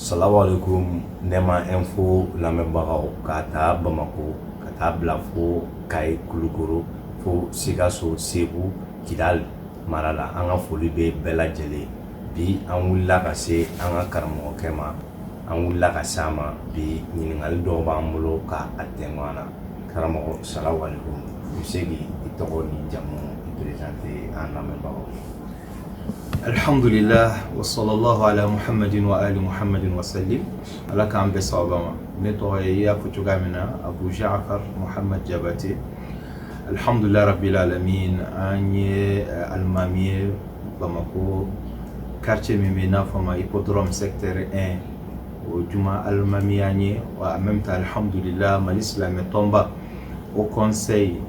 Salamualekum Nɛma info lamɛnbagaw k'a ta Bamakɔ ka taa bila fo Kayi Kulukɔrɔ fo Sikaso Segu Kidali mara la an ka foli bɛ bɛɛ lajɛlen ye bi an wulila ka se an ka karamɔgɔkɛ ma an wulila ka se a ma bi ɲininkali dɔw b'an bolo k' a tɛ ɲɔgɔn na karamɔgɔ salamualekum i bɛ se k' i tɔgɔ ni jamu présenter an lamɛnbagaw alihamdulila wa salalahu ala muhamadin wa ali muhamadin wa salim ala k'an bɛn sababa ma ne tɔgɔ ye i y'a fɔ cogoya min na Abu Jafar Muhamad Jabate Alihamdulilarabi min an ye alimami ye bamakɔ kariti min bɛ n'a fɔ ma i ko dɔrɔn se teri n o juma alimami an ye wa an bɛ taa alihamdulila mali silamɛmɛ tɔnba o kɔnɛ ye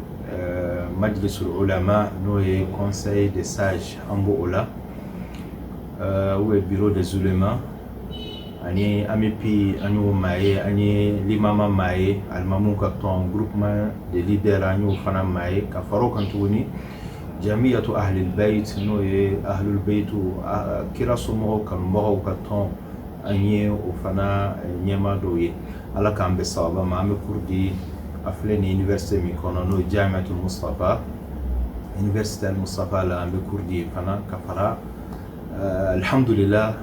majili s o la n'o ye kɔnɛ ye de sa an b' oo la u ye bi de zurema ani AMUPI an y'o maa ye an ye limama maa ye alimamiw ka tɔn groupement des leaders an y'o fana maa ye ka fara o kan tuguni jamiyatu ahali bayti n'o ye ahali bayti kira somɔgɔw kanubagaw ka tɔn an ye o fana ɲɛmaa dɔ ye ala k'an bɛn sababa ma an bɛ cours di a filɛ université min kɔnɔ n'o ye jamiyatul Musitafa université Musitafa la an bɛ cours di yen fana ka fara alihamdulila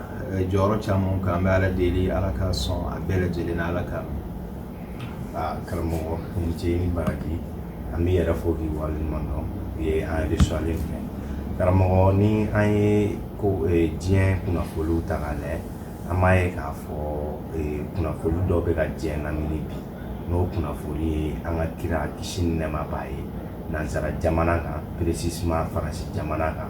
jɔyɔrɔ caman kan an bɛ ala deli ala ka sɔn a bɛɛ lajɛlen na ala ka karamɔgɔ i ni ce i ni baraji an b'i yɛrɛ fo k'i waleɲuman dɔn i ye an recevoirlen fɛ karamɔgɔ ni an ye ko diɲɛ kunnafoliw ta k'a lajɛ an b'a ye k'a fɔ kunnafoli dɔ bɛ ka diɲɛ lamini bi n'o kunnafoli ye an ka kira kisi ni nɛɛma b'a ye nansara jamana kan précisément faransi jamana kan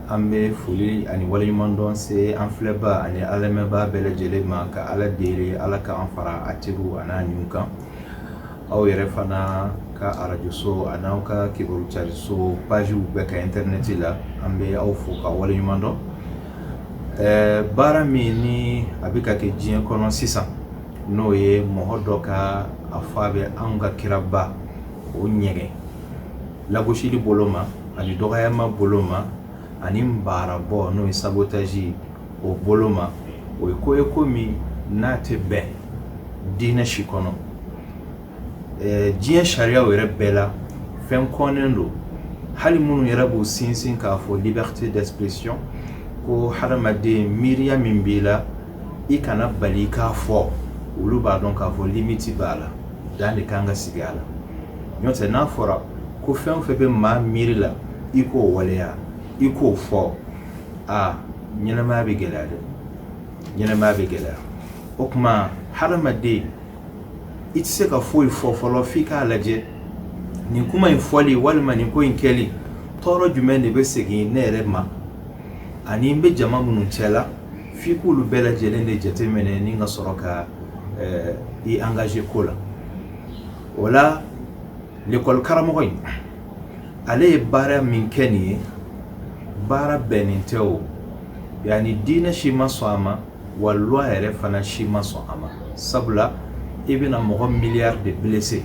An bɛ foli ani waleɲumandɔn se an filɛbaa ani an lamɛnbaa bɛɛ lajɛlen ma, ka Ala deli Ala k'an fara a teriw a n'a ɲinw kan, aw yɛrɛ fana ka arajoso a n'aw ka kibaru cariso pages bɛɛ kan internet la, an bɛ aw fo k'aw waleɲumandɔn, ɛɛ baara min ni a bɛ ka kɛ diɲɛ kɔnɔ sisan, n'o ye mɔgɔ dɔ ka a fɔ a bɛ anw ka kiraba o ɲɛgɛn lagosili bolo ma ani dɔgɔyama bolo ma ani baarabɔ n'o ye sabotaji o bolo ma o ye ko ye ko min n'a tɛ bɛn diinɛ si kɔnɔ diɲɛ sariyaw yɛrɛ bɛɛ la fɛn kɔnnen don hali minnu yɛrɛ b'u sinsin k'a fɔ liberté d'expression ko hadamaden miiriya min b'i la i kana bali k'a fɔ olu b'a dɔn k'a fɔ limiti b'a la dan de kan ka sigi a la n'o tɛ n'a fɔra ko fɛn o fɛn bɛ maa miiri la i k'o waleya i k'o fɔ aa ɲɛnamaya bɛ gɛlɛya dɛ ɲɛnamaya bɛ gɛlɛya o tuma hadamaden i tɛ se ka foyi fɔ fɔlɔ f'i k'a lajɛ nin kuma in fɔli walima nin ko in kɛli tɔɔrɔ jumɛn de bɛ segin ne yɛrɛ ma ani n bɛ jama minnu cɛ la f'i k'olu bɛɛ lajɛlen de jateminɛ ni ka sɔrɔ ka i angaze ko la o la lekɔlikaramɔgɔ in ale ye baara min kɛ nin ye baara bɛnnen tɛ o yani diinɛ si ma sɔn a ma wa luwa yɛrɛ fana si ma sɔn a ma sabula i bɛna mɔgɔ miliyari de bilese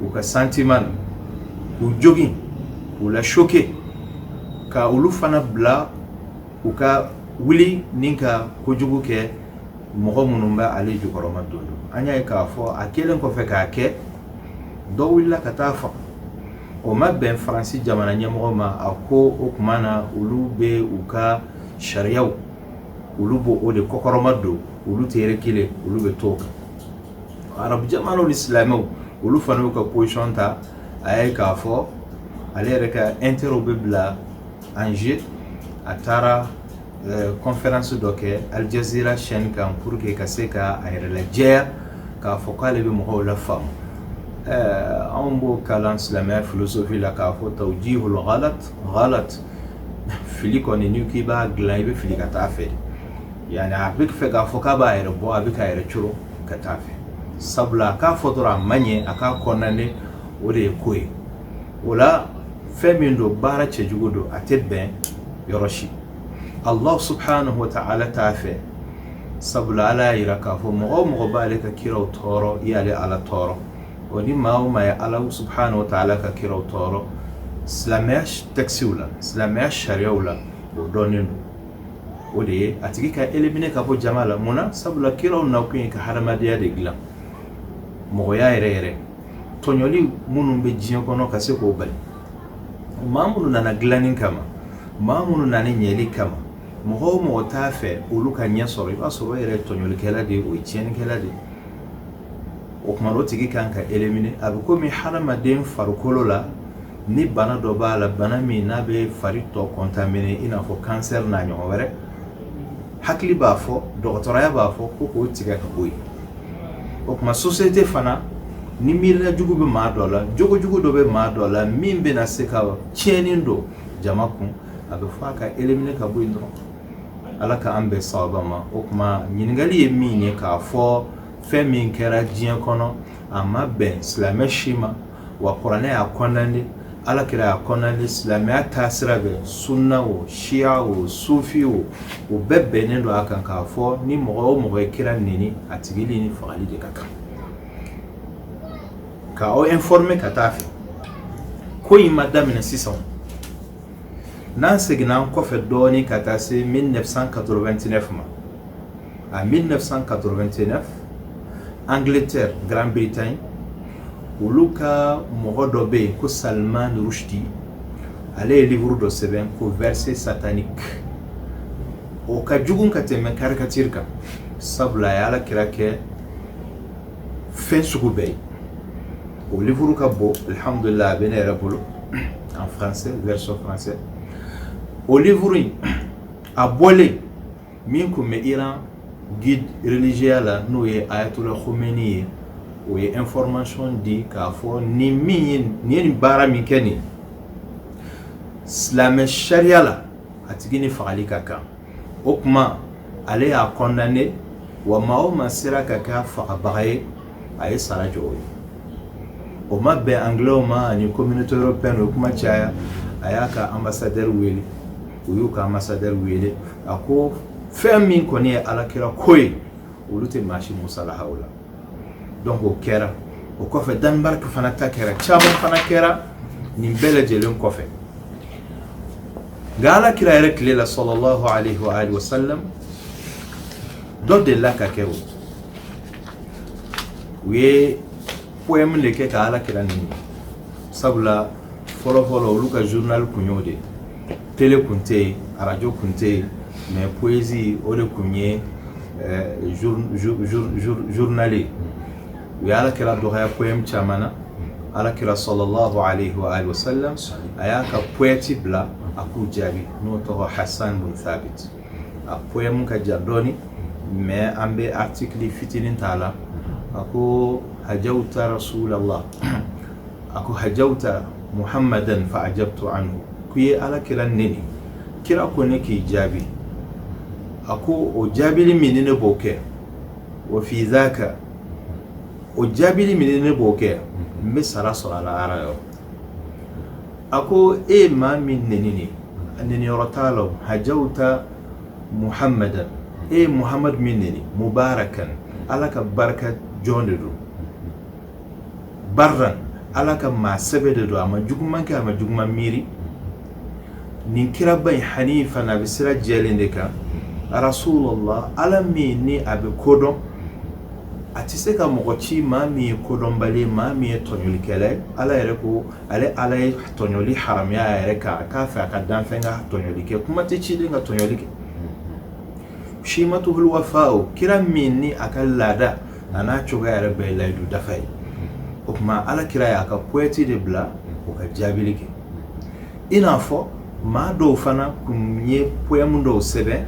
u ka santiman k'u jogin k'u la soke ka olu fana bila u ka wuli ni ka kojugu kɛ mɔgɔ minnu bɛ ale jukɔrɔmadondon an y'a ye k'a fɔ a kelen kɔfɛ k'a kɛ dɔ wulila ka t'a faga o ma bɛn faransi jamana ɲɛmɔgɔ ma a ko o tuma na olu bɛ u ka sariyaw olu b'o de kɔkɔrɔmadon olu tɛ yɛrɛ kelen olu bɛ t'o kan arabu jamanaw ni silamɛw olu fana y'u ka position ta a ye k'a fɔ ale yɛrɛ ka intérêt bɛ bila en jeu a taara kɔnfɛransi dɔ kɛ alijazera chaîne kan pour que ka se ka a yɛrɛ lajɛya k'a fɔ k'ale bɛ mɔgɔw lafaamu anw b'o kalan silamɛya filosofi la k'a fɔ tawjihul ghalat fili kɔni n'i k'i b'a dilan i bɛ fili ka taa fɛ yani a b'a fɛ k'a fɔ k'a b'a yɛrɛ bɔ a bɛ k'a yɛrɛ coron ka taa fɛ sabula a k'a fɔ dɔrɔn a man ɲi a k'a kɔndane o de ye ko ye o la fɛn min don baara cɛjugu don a tɛ bɛn yɔrɔ si allah subhanahu wa ta'ala t'a fɛ sabula ala y'a yira k'a fɔ mɔgɔ o mɔgɔ b'ale ka kiraw tɔɔrɔ i y'ale ala tɔɔrɔ o ni maa o maa ye ala subhanahu wa ta'ala ka kiraw tɔɔrɔ silamɛya tɛkisiw la silamɛya sariyaw la o dɔnnen don o de ye a tigi ka elimine ka bɔ jama la mun na sabula kiraw nakun ye ka hadamadenya de dilan mɔgɔya yɛrɛ yɛrɛ tɔɲɔli minnu bɛ diɲɛ kɔnɔ ka se k'o bali maa minnu nana dilanni kama maa minnu nana ɲɛli kama mɔgɔ o mɔgɔ t'a fɛ olu ka ɲɛ sɔrɔ i b'a sɔrɔ o yɛrɛ ye tɔɲɔlikɛla de ye o ye tiɲɛnikɛla de ye o tuma o tigi ka kan ka elimine a bɛ komi hadamaden farikolo la ni bana dɔ b'a la bana min n'a bɛ fari tɔ kɔntamine i n'a fɔ kansɛri n'a ɲɔgɔn wɛrɛ hakili b'a fɔ dɔgɔtɔrɔya b'a fɔ ko k'o tigɛ ka bɔ yen o tuma sosiyete fana ni miirila jugu bɛ maa dɔ la jogojugu dɔ bɛ maa dɔ la min bɛna se ka tiɲɛni don jama kun a bɛ fɔ a ka elimine ka bɔ yen dɔrɔn ala ka an bɛn sababa ma o tuma ɲininkali ye min ye k'a fɔ fɛn min kɛra diɲɛ kɔnɔ a ma bɛn silamɛ si ma wa kuranɛ y'a condamné ala kira y'a condamné silamɛya taa sira bɛɛ sunna o siya o sufi o o bɛɛ bɛnnen don a kan k'a fɔ ni mɔgɔ o mɔgɔ ye kira neni a tigi ni fagali de ka kan ka aw informer ka taa fɛ ko in ma daminɛ sisan n'an seginna an kɔfɛ dɔɔnin ka taa se 1989 ma En 1989, Angleterre, Grande-Bretagne, olu ka mɔgɔ dɔ bɛ yen ko Salman Rushdie ale ye livre dɔ sɛbɛn ko verset satanique o ka jugu ka tɛmɛ caricature kan sabula a ye ala kira kɛ fɛn sugu bɛɛ ye o livre ka bon alhamdulillah a bɛ ne yɛrɛ bolo en français version français o livre in a bɔlen min kun bɛ Iran guide religieuxya la n'o ye Ayatollah Khomeini ye o ye information di k'a fɔ ni min ye nin ye nin baara min kɛ nin silamɛ sariya la a tigi ni fagali ka kan o kuma ale y'a condamné wa maa o maa sera ka kɛ a fagabaga ye a ye sara jɔ o ye o ma bɛn anglaisw ma ani communauté européenne o kuma caya a y'a ka ambassadeur wele u y'u ka ambassadeur wele a ko fɛn min kɔni ye ala kira ko ye olu tɛ maa si musalaha o la donc o kɛra o kɔfɛ Danemark fana ta kɛra caman fana kɛra nin bɛɛ lajɛlen kɔfɛ nka ala kira yɛrɛ tile la sallallahu alayhi wa alihi wa sallam dɔ delila k'a kɛ o u ye poème de kɛ ka ala kira neni sabula fɔlɔ fɔlɔ olu ka journal kun y'o de tele kun tɛ yen arajo kun tɛ yen mais poésie o de kun ye journal ye u ye ala kira dɔgɔya poème caman na ala kira sallallahu alayhi wa alihi wa sallam a y'a ka poète bila a k'u jaabi n'o tɔgɔ hasan bun thabit a poème ka jan dɔɔni mais an bɛ article fitinin t'a la a ko hajawta rasulallah a ko hajawta muhammadan fa ajabtu anhu k'i ye ala kira neni kira ko ne k'i jaabi a ko o jaabili min ni ne b'o kɛ wa fi dhaka o jaabili min ni ne b'o kɛ n bɛ sara sɔrɔ a la ala yɔrɔ a ko e ye maa min neni neni yɔrɔ t'a la hajawta muhammadan e ye muhamadu min neni mubarakan ala ka barika jɔn de don barran ala ka maa sɛbɛ de don a ma juguman kɛ a ma juguman miiri nin kiraba in hanifan a bɛ sira jɛlen de kan rasulullah ala min ni a bɛ kodɔn a tɛ se ka mɔgɔ ci maa min ye kodɔnbali maa min ye tɔɲɔlikɛla ye ala yɛrɛ ko ale ala ye tɔɲɔli haramiya a yɛrɛ kan k'a fɛ a ka danfɛn ka tɔɲɔli kɛ kuma tɛ ciden ka tɔɲɔli kɛ shimatuhul wafa'u kira min ni a ka laada a n'a cogoya yɛrɛ bɛɛ layidu dafa ye o tuma ala kira y'a ka poète de bila o ka jaabili kɛ i n'a fɔ maa dɔw fana kun ye poème dɔw sɛbɛn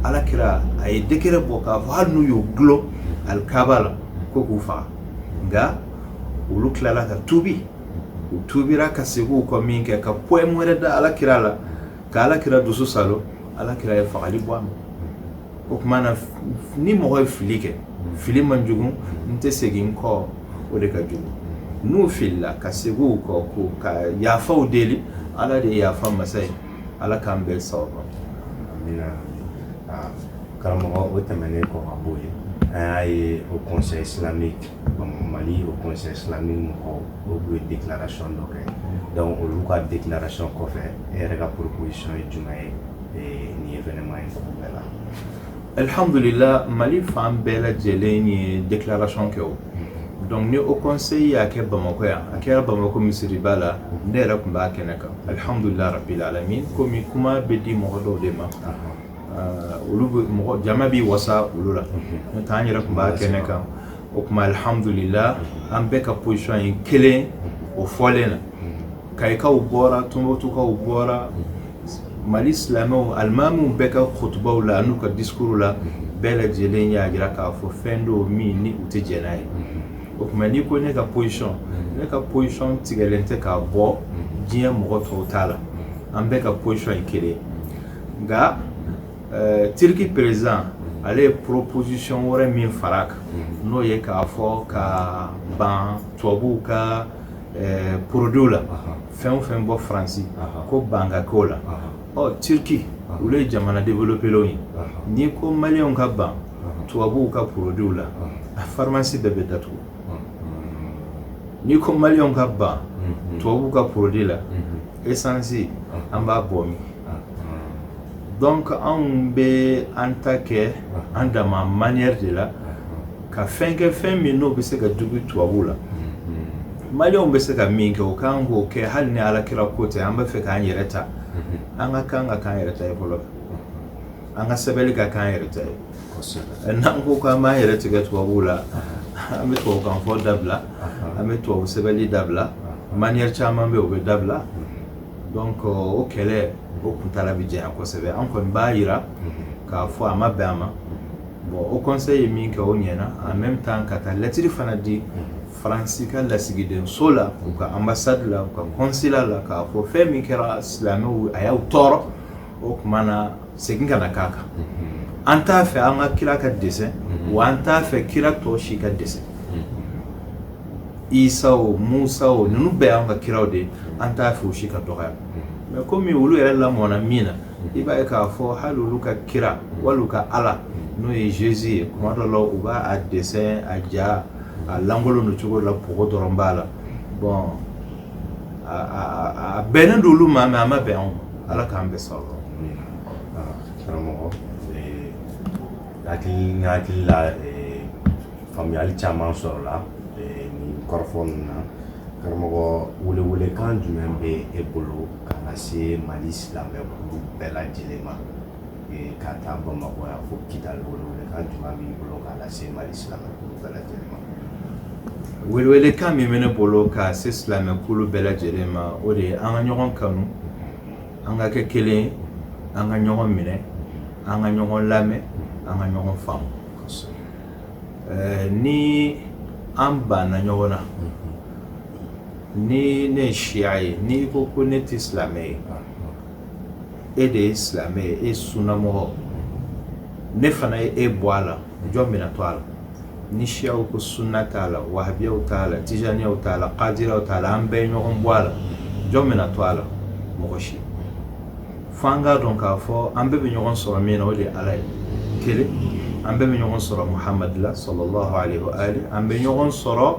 ala kira a ye décret bɔ k'a fɔ hali n'u y'u dulon alikaaba la ko k'u faga nka olu tilala ka tuubi u tuubira ka segin u kɔ min kɛ ka poème wɛrɛ da ala kira la ka ala kira dusu saalo ala kira ye fagali bɔ a ma o tuma na ni mɔgɔ ye fili kɛ fili man jugu n tɛ segin n kɔ o de ka jugu n'u filila ka segin u kɔ ka yafaw deli ala de ye yafa masa ye ala k'an bɛɛ sabati karamɔgɔ o tɛmɛnen kɔ ka bɔ yen an y'a ye haut conseil islamique Mali haut conseil islamique mɔgɔw ye déclaration dɔ kɛ dɔnku olu ka déclaration kɔfɛ e yɛrɛ ka proposition ye jumɛn ye nin événement in bɛɛ la alihamdulila mali fan bɛɛ lajɛlen ye déclaration kɛ o dɔnku ni haut conseil y'a kɛ bamakɔ yan a kɛra bamakɔ misiriba la ne yɛrɛ tun b'a kɛnɛ kan alihamdulila rabil alamin kɔmi kuma bɛ di mɔgɔ dɔw de ma olu mɔgɔ jama b'i wasa olu la n'o tɛ an yɛrɛ tun b'a kɛnɛ kan o tuma alihamdulila an bɛɛ ka posisɔn ye kelen o fɔlen na kayikaw bɔra tɔnbɔtukaw bɔra mali silamɛw alimamiw bɛɛ ka kutubaw la n'u ka disikuruw la bɛɛ lajɛlen y'a jira k'a fɔ fɛn don min ni u tɛ jɛn n'a ye o tuma n'i ko ne ka posisɔn ne ka posisɔn tigɛlen tɛ k'a bɔ diɲɛ mɔgɔ tɔw ta la an bɛɛ ka posisɔn ye kelen nka eh, turiki perezidan ale ye proposition wɛrɛ min far'a kan n'o ye k'a fɔ ka ban tubabuw ka eh, produitw la fɛn o fɛn bɔ faransi ko ban ka k'o la ɔ turiki olu ye jamana développelenw ye n'i ko maliyɛnw ka ban tubabuw ka produitw la a farimasi bɛɛ bɛ datugu n'i ko maliyɛnw ka ban tubabuw ka produit la esansi an b'a bɔ min donc anw bɛ an ta kɛ an dama manière de la ka fɛn kɛ fɛn min n'o bɛ se ka digi tubabuw la maliyɛnw bɛ se ka min kɛ u kan k'o kɛ hali ni alakira ko tɛ an bɛ fɛ k'an yɛrɛ ta an ka kan ka k'an yɛrɛ ta ye fɔlɔ an ka sɛbɛnni ka k'an yɛrɛ ta ye eh, n'an ko k'an b'an yɛrɛ tigɛ tubabuw la an bɛ tubabukan fɔ dabila an bɛ tubabu sɛbɛnni dabila manière caman bɛ yen o bɛ dabila mm-hmm. donc euh, o kɛlɛ o kuntala bɛ janya kosɛbɛ an kɔni b'a yira mm-hmm. k'a fɔ a ma bɛn a ma mm-hmm. bon o conseil ye min kɛ o ɲɛna en même temps ka taa lettre fana di faransi ka lasigidenso la u ka ambassade la u ka consulat la k'a fɔ fɛn min kɛra silamɛw a y'aw tɔɔrɔ o tuma na segin kana k'a kan an t'a fɛ an ka kira ka dessin wa an t'a fɛ kira tɔ si ka dessin isa o musa o ninnu bɛɛ y'an ka kiraw de an t'a fɛ u si ka dɔgɔya mais komi olu yɛrɛ lamɔna min na i b'a ye k'a fɔ hali olu ka kira wali u ka ala n'o ye jésus ye kuma dɔ la u b'a a dessin a ja a lankolon don cogo la pogo dɔrɔn b'a la bon a bɛnnen don olu ma mais a ma bɛn anw ma ala k'an bɛɛ sɔrɔ karamɔgɔ n hakili la faamuyali caman sɔrɔla nin kɔrɔfɔ ninnu na karamɔgɔ welewelekan jumɛn bɛ e bolo ka lase mali silamɛkulu bɛɛ lajɛlen ma ka taa bamakɔ yan fo kidali welewelekan jumɛn b'i bolo k'a lase mali silamɛ bɛɛ lajɛlen ma welewelekan min bɛ ne bolo ka se silamɛkulu bɛɛ lajɛlen ma o de ye an ka ɲɔgɔn kanu an ka kɛ kelen an ka ɲɔgɔn minɛ an ka ɲɔgɔn lamɛn an ka ɲɔgɔn faamu ni an banna ɲɔgɔn na ni ne ye siya ye n'i ko ko ne tɛ silamɛ ye e de ye silamɛ ye e sunnamɔgɔ ne fana ye e bɔ a la jɔn bɛna to a la ni siyaw ko sunna t'a la wahabiyaw t'a la tijaniyaw t'a la kadiraw t'a la an bɛɛ ye ɲɔgɔn bɔ a la jɔn bɛna to a la mɔgɔ si fo an k'a dɔn k'a fɔ an bɛɛ bɛ ɲɔgɔn sɔrɔ min na o de ye ala ye kelen an bɛɛ bɛ ɲɔgɔn sɔrɔ muhamadu la sallallahu alayhi wa alihi an bɛ ɲɔgɔn sɔrɔ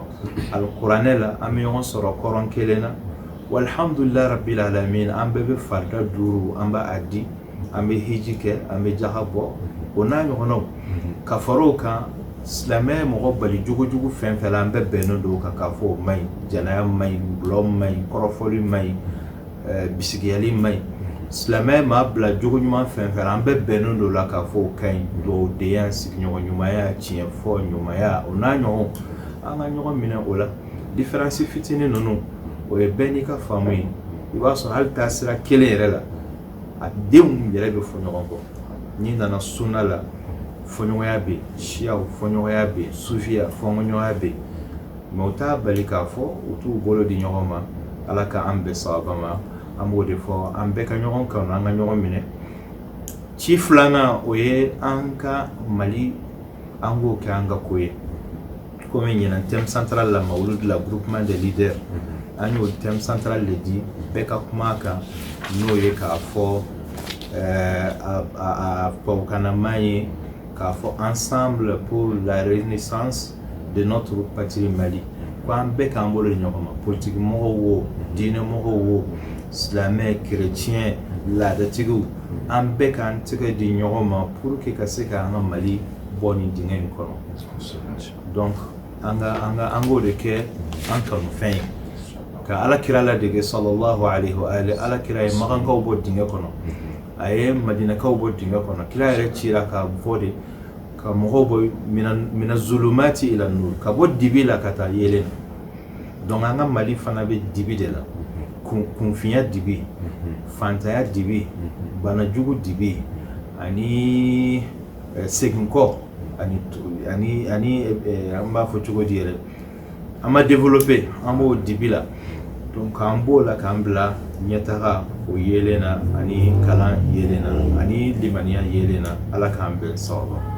alikuranɛ la an bɛ ɲɔgɔn sɔrɔ kɔrɔn kelen na Walhamdulillah rabbil alamin an bɛɛ bɛ farida duuru an b'a di an bɛ hiji kɛ an bɛ jaka bɔ o n'a ɲɔgɔnw ka fara o kan silamɛ mɔgɔ bali jogojugu fɛn fɛn an bɛɛ bɛnnen don kan k'a fɔ o ma ɲi jɛnɛya ma ɲi dulɔ ma ɲi kɔrɔfɔli ma ɲi bisigiyali ma ɲi silamɛ maa bila jogo ɲuman fɛn fɛn an bɛɛ bɛnnen don la k'a fɔ o ka ɲi dugawudenya sigiɲɔgɔn ɲumanya tiɲɛ fɔ ɲumanya o n'a ɲɔgɔn an ka ɲɔgɔn minɛ o la différence fitinin ninnu o ye bɛn n'i ka faamu ye i b'a sɔrɔ hali taasira kelen yɛrɛ la a denw yɛrɛ bɛ fɔ ɲɔgɔn kɔ n'i nana sunna la fɔɲɔgɔnya bɛ yen siyaw fɔɲɔgɔnya bɛ yen sufiya fɔɲɔgɔnya bɛ yen mais o t'a bali k'a fɔ u t'u bolo di ɲɔgɔn ma ala k'an bɛn sawaba ma an b'o de fɔ an bɛɛ ka ɲɔgɔn kanu an ka ɲɔgɔn minɛ ci filanan o ye an ka mali an k'o kɛ an ka ko ye kɔmi ɲinan thème central la mawuludi la groupement des leaders an y'o thème central le di bɛɛ ka kuma a kan n'o ye k'a fɔ eh, a- a a tubabukanama ye k'a fɔ ensemble pour la renaissance de notre patrie mali ko an bɛɛ k'an bolo di ɲɔgɔn ma politiki mɔgɔw wo diinɛmɔgɔw wo silamɛ kereciyɛn laadatigiw an bɛɛ k'an tɛgɛ di ɲɔgɔn ma pour que ka se k'an ka mali bɔ nin dingɛ in kɔnɔ donc an ka an ka an k'o de kɛ an kanufɛn ye ka ala kira ladege sallallahu alaihi wa alihi ala kira ye makankaw bɔ dingɛ kɔnɔ a ye madinakaw bɔ dingɛ kɔnɔ kira yɛrɛ cira k'a fɔ de ka mɔgɔw bɔ mina zulumati ila nur ka bɔ dibi la ka taa yeelen na donc an ka mali fana bɛ dibi de la kunfinya dibi fantanya dibi banajugu dibi ani seginkɔ ani ani ani an b'a fɔ cogo di yɛrɛ an ma développer an b'o dibi la k'an bɔ o la k'an bila ɲɛtaga o yelen na ani kalan yelen na ani limaniya yelen na ala k'an bɛn sawaba ma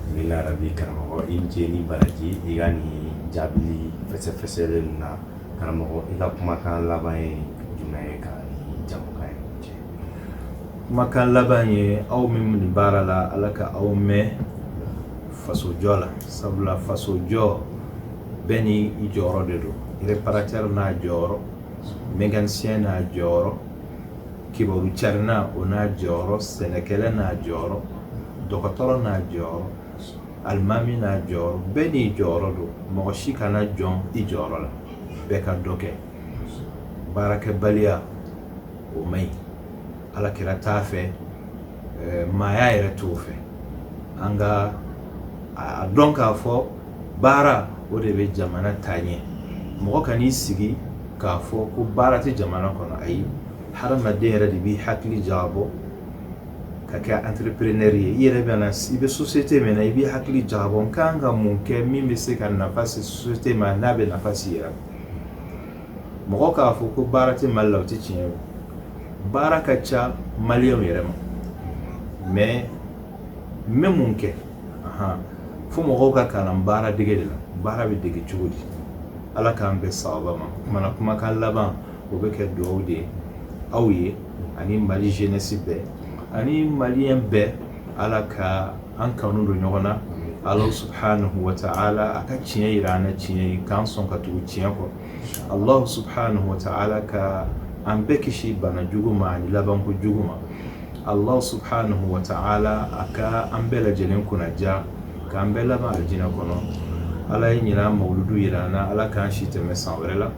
amiina yarabi karamɔgɔ i ce ni baraji i ka nin jaabili fɛsɛfɛsɛlen na karamɔgɔ i ka kumakan laban ye jumɛn ye ka jɛmukan ye kumakan laban ye aw min nin baara la ala ka aw mɛn fasojɔ la sabula fasojɔ bɛɛ ni i jɔyɔrɔ de don réparateur n'a jɔyɔrɔ mécanicien n'a jɔyɔrɔ kibaru carinna o n'a jɔyɔrɔ sɛnɛkɛla n'a jɔyɔrɔ dɔgɔtɔrɔ n'a jɔyɔrɔ alimami n'a jɔyɔrɔ bɛɛ n'i jɔyɔrɔ don mɔgɔ si kana jɔn i jɔyɔrɔ la bɛɛ ka dɔ kɛ baarakɛbaliya o man ɲi ala kira t'a fɛ maaya yɛrɛ t'o fɛ an ka a dɔn k'a fɔ baara o de bɛ jamana taa ɲɛ mɔgɔ kan'i sigi k'a fɔ ko baara tɛ jamana kɔnɔ ayi hadamaden yɛrɛ de b'i hakili jagabɔ ka kɛ entrepreneur ye i yɛrɛ bɛna i bɛ société min na i b'i hakili jagabɔ n kan ka mun kɛ min bɛ se ka nafa se société ma n'a bɛ nafa se i yɛrɛ ma mɔgɔ k'a fɔ ko baara tɛ mali la o tɛ tiɲɛ ye baara ka ca maliyɛnw yɛrɛ ma mɛ n bɛ mun kɛ fo mɔgɔw ka kalan baara dege de la baara bɛ dege cogo di ala k'an bɛn sababa ma kumana kumakan laban o bɛ kɛ dugawu de ye aw ye ani mali jeunesse bɛɛ ani maliyɛn bɛɛ ala ka an kanu don ɲɔgɔn na ala subahanahu wa taala a ka tiɲɛ jira an na tiɲɛ ye k'an sɔn ka tugu tiɲɛ kɔ ala subahanahu wa taala ka an bɛɛ kisi bana jugu ma ani labanko jugu ma ala subahanahu wa taala a ka an bɛɛ lajɛlen kunnaja k'an bɛɛ laban alijinɛ kɔnɔ ala ye ɲinan mawuludu jira an na ala k'an si tɛmɛ san wɛrɛ la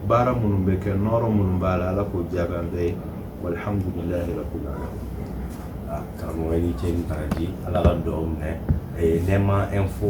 baara minnu bɛ kɛ nɔɔrɔ minnu b'a la ala k'o jaabi an bɛɛ ye walhamdulilayi rabbil alamin ah, karamɔgɔ ni ce ni baraji ala ka dugawu minɛ eh, nɛɛma info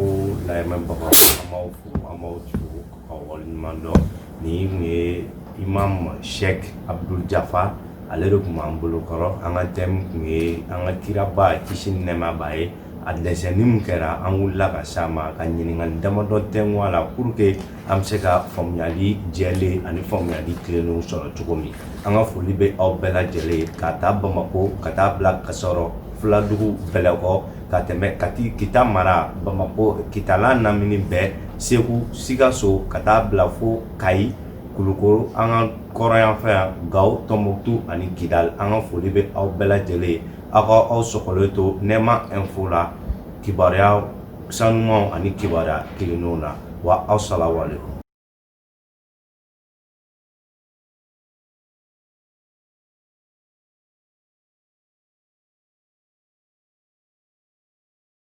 lamɛnbagaw an b'aw fo an b'aw fo k'aw waleɲuman dɔn nin tun ye imam sheikh abdul jafar ale de tun b'an bolo kɔrɔ an ka thème tun ye an ka kiraba kisi ni nɛɛma b'a ye a dɛsɛnni min kɛra an wulila ka s'a ma ka ɲininkali damadɔ tɛngu a la pour que An bɛ se ka faamuyali jɛlen ani faamuyali tilennen sɔrɔ cogo min an ka foli bɛ aw bɛɛ lajɛlen ye k'a ta bamakɔ ka taa bila kasɔrɔ fuladugu bɛlɛkɔ ka tɛmɛ kati kita mara bamakɔ kitala lamini bɛɛ segu sikaso ka taa bila fo kayi kulukoro an ka kɔrɔnyanfɛ yan gawo tɔnbukutu ani kidal an ka foli bɛ aw bɛɛ lajɛlen ye aw k'aw sɔgɔlen to nɛɛma info la kibaruya Sanuuma ani kibaruya kelenw na wa aw sala wale kɔ